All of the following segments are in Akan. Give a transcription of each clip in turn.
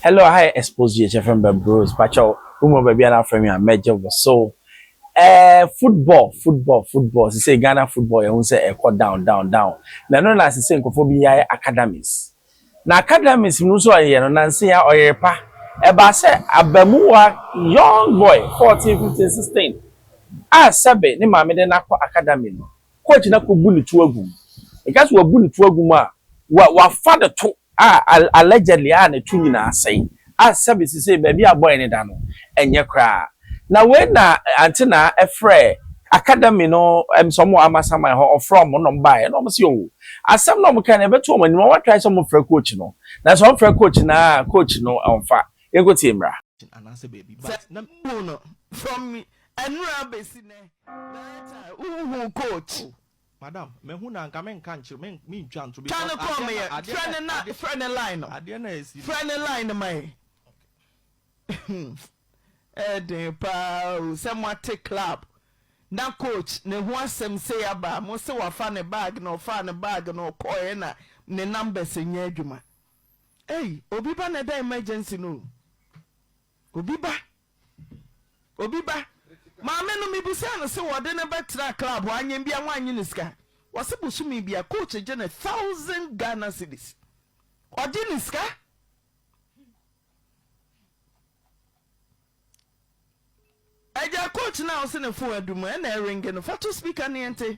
Hello aha yɛ expose yɛ kyɛ fɛm bɛn bros pakyɛw wo mu baabi a na afrɛ me a mɛgye wo so ɛɛ football football football sisei Ghana football yɛhu sɛ ɛkɔ down down down na ɛno na sisei nkorɔfoɔ bi yae academies na academies mu nso ɔyɛ no nanse a ɔyere pa ɛbaa sɛ abamuwa young boy fourteen fifteen sixteen a sɛbe ne maame de no akɔ academy no coach no akɔbu ne to agu mu nka sɛ wabu ne to agu mu a wa wafa ne to a allegedly a ne to nyinaa sɛe a sɛbe sesei baabi a bɔe no da no ɛnyɛ koraa na wei na ante na ɛfrɛɛ academy no ɛm sɛ ɔmo wɔ amasaman hɔ ɔfrɛ ɔmo na ɔmo baeɛ na ɔmo se oo asɛm na ɔmo kae no ɛbɛto ɔmo anim ɔmo atrae sɛ ɔmo frɛ coach no nanso ɔmo frɛ coach no aa coach no ɔmfa yɛnkɔ tie mmra. anaasɛ baabi but na mehu no from ɛnora bɛsi nnɛ na ɛtaa wohu coach. Madam, mahu no a, anka menka nkyerɛ, men, mentwa nto Twa no because kɔɔ adeɛ no, meyɛ, adeɛ frɛ no, ne na, adeɛ, frɛ ne line no, adeɛ no a ɛsi no. frɛ ne line no ma yɛn. Ɛyɛ den paa o, sɛ moate club na coach ne ho asɛm sei aba a, mose wafa ne bag na ɔfaa ne bag na ɔkɔɔe ɛna ne numbers nyɛ adwuma. Ei, obi ba na ɛda emergency no o, obi ba Obi ba, maame no mibisaa no se wɔde no bɛtraa club hɔ anyen bia wɔanye no sika? Wɔse bosome bia coach gye no thousand Ghana cedis. Ɔgye ne sika? Agya coach no a wose ne phone adum ɛna ɛringe no fa to speaker ne yɛnte.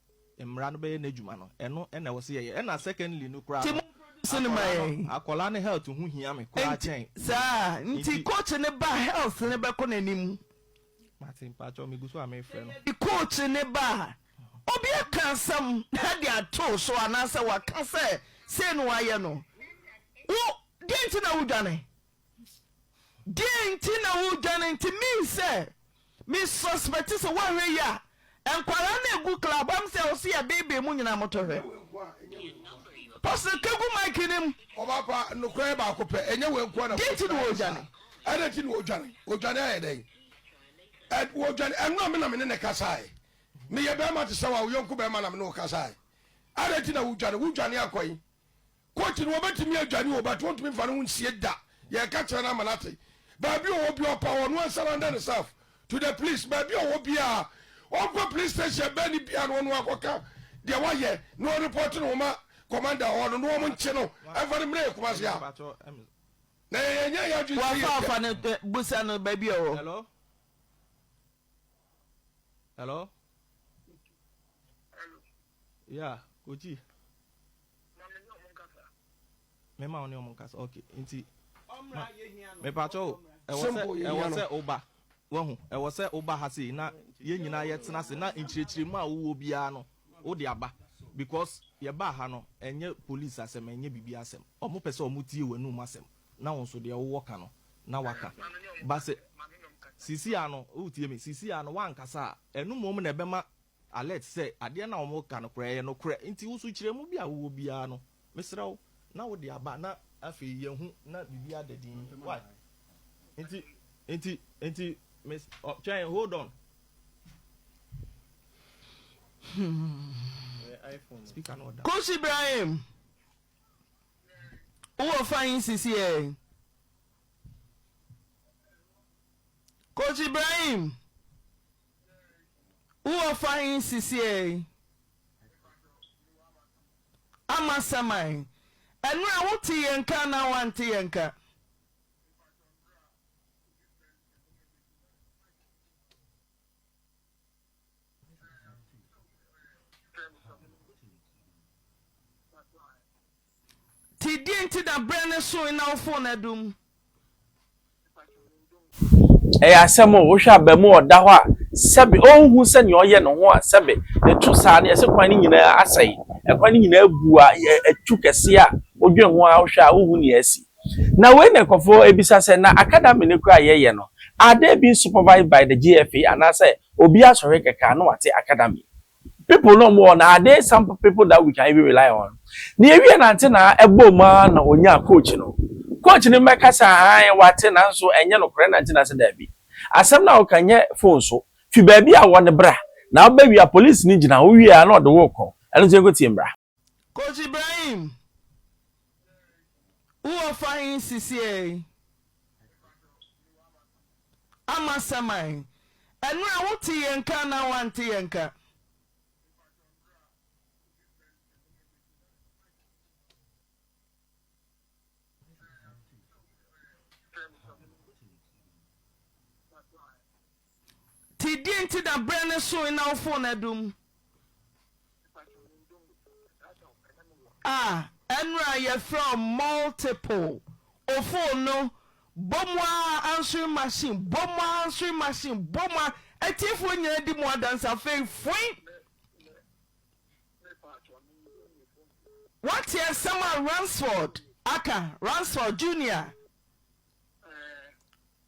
Mmara no bɛyɛ n'adwuma no ɛno na ɛwɔ sɛ yɛyɛ ɛna secondly no koraa no akwadaa no akwadaa no health ho hia me koraa kyɛn saa nti coach ne ba health no bɛkɔ n'anim mate mpakyɛw megu so a mefrɛ no yɛde coach ne ba a obi aka asɛm na de ato so anaasɛ waka sɛ sei na wayɛ no wo deɛ nti na wodwane Deɛn nti na wodwane nti mii sɛ me suspect sɛ woanhwɛ yie a nkwadaa no egu club am sɛ ɔsi yɛ beebee mu nyinaa moto hwɛ pɔsɛ kegu mic no mu. Ɔba pa nokora yɛ baako pɛ ɛnyɛ wei nkoa na. Deɛn nti na wodwane. Ɛna nti na wodwane odwane ayɛ dɛn ɛ wodwane ɛno na me na me ne ne kasaɛ meyɛ bɛɛma te sɛ wa wo yɔnko bɛɛma na me ne wo kasaɛ ɛna nti na wodwane wodwane akɔyi Coach no wɔbɛtumi adwane o but wɔntumi mfa ne ho nsie da. Yɛreka kyerɛ no ama no ate. Baabi ɔwɔ biara ɔpa hɔ, ɔno ansa render ne self to the police. Baabi ɔwɔ biara ɔnkɔ police station bɛn ne biara na ɔno akɔka deɛ wayɛ na ɔreport ne ho ma commander hɔ no na wɔn nkye no mfa no mmerɛ yɛ Kumasi ha. Na yɛ yɛn nyɛ yɛ adwene sɛ yɛ Wafa fa no eh, busa no baabi ɔwɔ. Hello? Hello? Yeah, Kochi. Ma me ne wɔn nkasa. Mɛma wo ne wɔn nkasa, ok, nti. Ɔmmra, yɛhia no. Mepakyɛ o, ɛwɔ sɛ, ɛwɔ sɛ woba. Wahu, ɛwɔ sɛ woba ha sei na yɛn nyinaa yɛtena ase na nkyerɛkyerɛmu a wowɔ biara no, wode aba. Because yɛbaa ha no, ɛnyɛ police asɛm, ɛnyɛ biribiara asɛm. Wɔpɛ sɛ wɔtie w'anum asɛm na wo nso deɛ wowɔ ka no na woaka. But sɛ seesei ara no, woretie me, seesei ara no woankasa a, ɛno mmom na ɛbɛma alert sɛ adeɛ no a wɔreka no koraa ɛyɛ nokorɛ. Nti wo sukyerɛmu bi a wowɔ biara no, mesrɛ wo na wode aba na afei yɛahu na biribi ada dinn. Wai? Nti, nti, nti, mes, ɔ, twɛn, hold on. Ɛyɛ iPhone. Speaker no ɔda. Kush Ibrahim, wowɔ fine sisi ɛ. Coach Ibrahim, Wowɔ fa he sisiei? Amasɛm ahe? Ɛnora wote yɛ nka anaa woante yɛ nka? Nti deɛ nti na berɛ no soe na wo fon adum? Ɛyɛ asɛm o, wohwɛ abamu a ɔda hɔ a, sɛbe ɔnhu sɛ nea ɔyɛ ne ho a, sɛbe ne to saa no, yɛse kwan no nyinaa asɛe, ɛkwan no nyinaa abu a, atu kɛseɛ a, wodwen ho a, wohwɛ a wonhu nea asi. Na wei na nkurɔfoɔ abisa sɛ, na academy no koraa a yɛyɛ no, are they being supervised by the GFA anaasɛ obiara sɔre kɛkɛ a na wate academy? People no ɔmo wɔ na ade some people that we can even rely on na yɛwie nante na ɛbɔɔ mu ara na ɔnyaa coach no coach no mmɛka sɛ ahan wate nanso ɛnyɛ nokorɛ na nti na sɛ daabi asɛm no a woka nyɛ phone so fi baabi a wɔ no bra na wobɛwia police no gyina hɔ wowie a na ɔde wo rekɔ ɛno nti yɛnkɔtie mmra. Coach Ibrahim wo wɔ fa he sisiɛi? Amasɛm ae. Ɛnora wo te yɛ nka anaa wante yɛ nka? Te deɛ nti na berɛ no soe na wo fon adum? Ah, ɛnora yɛfrɛ wo multiple o fon no bɔ mu ara answering machine, bɔ mu ara answering machine, bɔ mu ara atiefoɔ nyinaa di mu adanse afei foin. Wate asɛm a Ransford aka, Ransford Junior?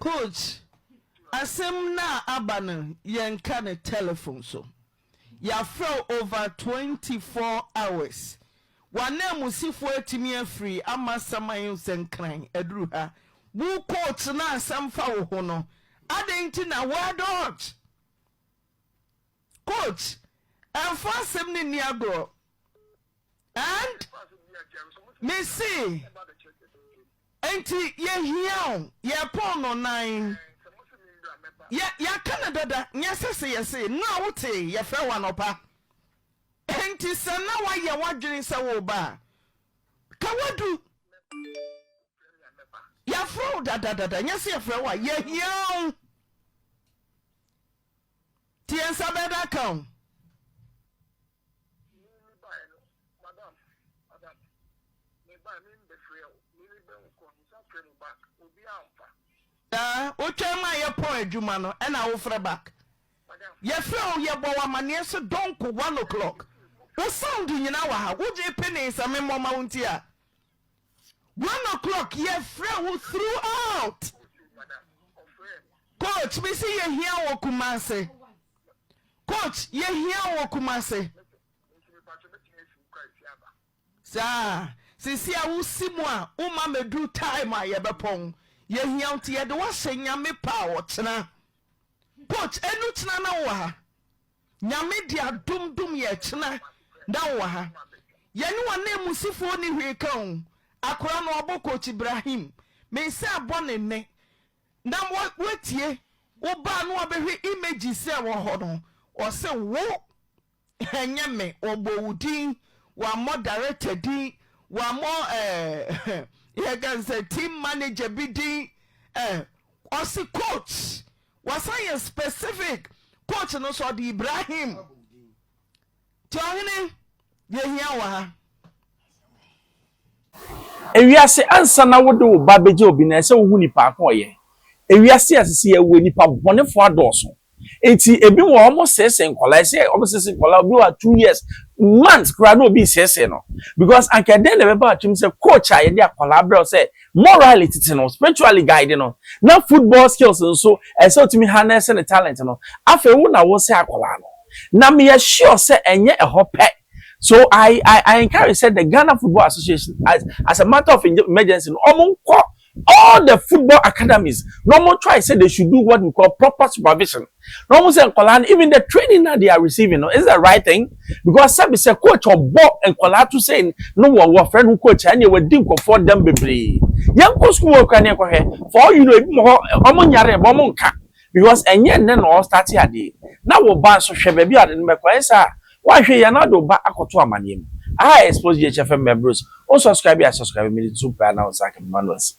Coach, asem no a aba no yɛnka no telephone so. Yɛafrɛ wo over twenty four hours. W'ananmusifoɔ atumi afiri ama saman nsɛnkran aduru ha. Wo coach no asɛm fa wo ho no, adɛn nti na woadodge? Coach, ɛmfa asɛm no nni agorɔ. And mese Enti yɛhia wo, yɛpɔn no nan. Yɛ, yɛaka no dada, nyɛ sɛ se yɛse, no a wotee yɛfrɛ wo anɔpa. Enti sɛ na woayɛ w'adwene sɛ woreba a, ka woadu. Yɛafrɛ wo dada dada, nyɛ sɛ yɛfrɛ wo a, yɛhia wo. Nti yɛn nsa bɛda ka wo. Mimi me bae no madam madam me bae mimi bɛ frɛ o mimi bɛ wo kɔ nsa frɛ mu back obi a nfa. Yaa wo twɛn ma yɛ pɔn adwuma no ɛna wo frɛ back yɛ frɛ o yɛ bɔ wo amaneɛ so donko one o'clock wo sound nyina wɔ ha wo gyee penee sɛ me mmɔ ma wo nti a one o'clock yɛ frɛ wo through out coach me se yɛ hia wɔ kumase Coach yɛhia wo wɔ Kumase. Saa, seesei a wosi mu a woma mɛduru time a yɛbɛpɔn. Yɛhia wo nti yɛde wo ahyɛ Nyame pɛ a ɔkyena. Coach ɛnu kyena na wowɔ ha. Nyame de adom dom yɛ ɛkyena na wowɔ ha. Yɛne w'ananmusifoɔ nni hwee ka o. Akora no ɔbɔ Coach Ibrahim. Mesan bɔ ne nnɛ. na watie wo ba no wabɛhwɛ images sɛ wɔ hɔ no ɔse wo ɛnyɛ me wɔbɔ wo din wɔammɔ director din wɔammɔ ɛɛ yɛka no sɛ team manager bi din ɛɛ ɔse coach wasan yɛ specific coach no sɛ ɔde Ibrahim Nti ɔhene yɛhia wo wɔ ha. Ewiase ansa na wode wo ba begye obi no ɛsɛ wohu nipa ko ɔyɛ ewiase a sisi yɛ wɔ nipa bɔnefo adɔɔso nti ebi wɔ ɔmo sese nkɔla ɛsɛ ɔmo sese nkɔla obi wɔ two years months koraa na obi sese no because anka ɛdɛn na ɛbɛba akyim sɛ coach a yɛde akɔla abrɛw sɛ Morally tete no, spiritually guide no, na football skills nso, ɛsɛ sɛ otumi harness ne talent no. Afei wo na wosɛe akwadaa no. Na meyɛ sure sɛ ɛnyɛ ɛhɔ pɛ. So I I encourage sɛ the Ghana Football Association as as a matter of emergency no, wɔnkɔ all the football academies na wɔn try sɛ they should do what we call proper supervision. na wɔn sɛ nkwadaa no even the training na they are receiving no is the right thing because sɛbi sɛ coach ɔbɔ nkwadaa to sɛ no wɔ wɔfrɛ no coach a ɛnna wɔadi nkɔfoɔ dɛm bebree yɛn nkɔ sukuu wɔ kura ne nkɔhwɛ for all you know ebi mo hɔ wɔn nyare ɛbɔ wɔn nka because ɛnyɛ nnɛ na ɔstart adeɛ na wɔ ba nso hwɛ baabi a ɔde no bɛkɔ ɛyɛ sɛ a wahwɛ yɛn na ɔde ɔba akɔto amaneɛ mu aha expose yɛ kyɛ fɛn mɛ bros o subscribe yɛ subscribe mi de tu paa na o nsa kɛmɛ manuals.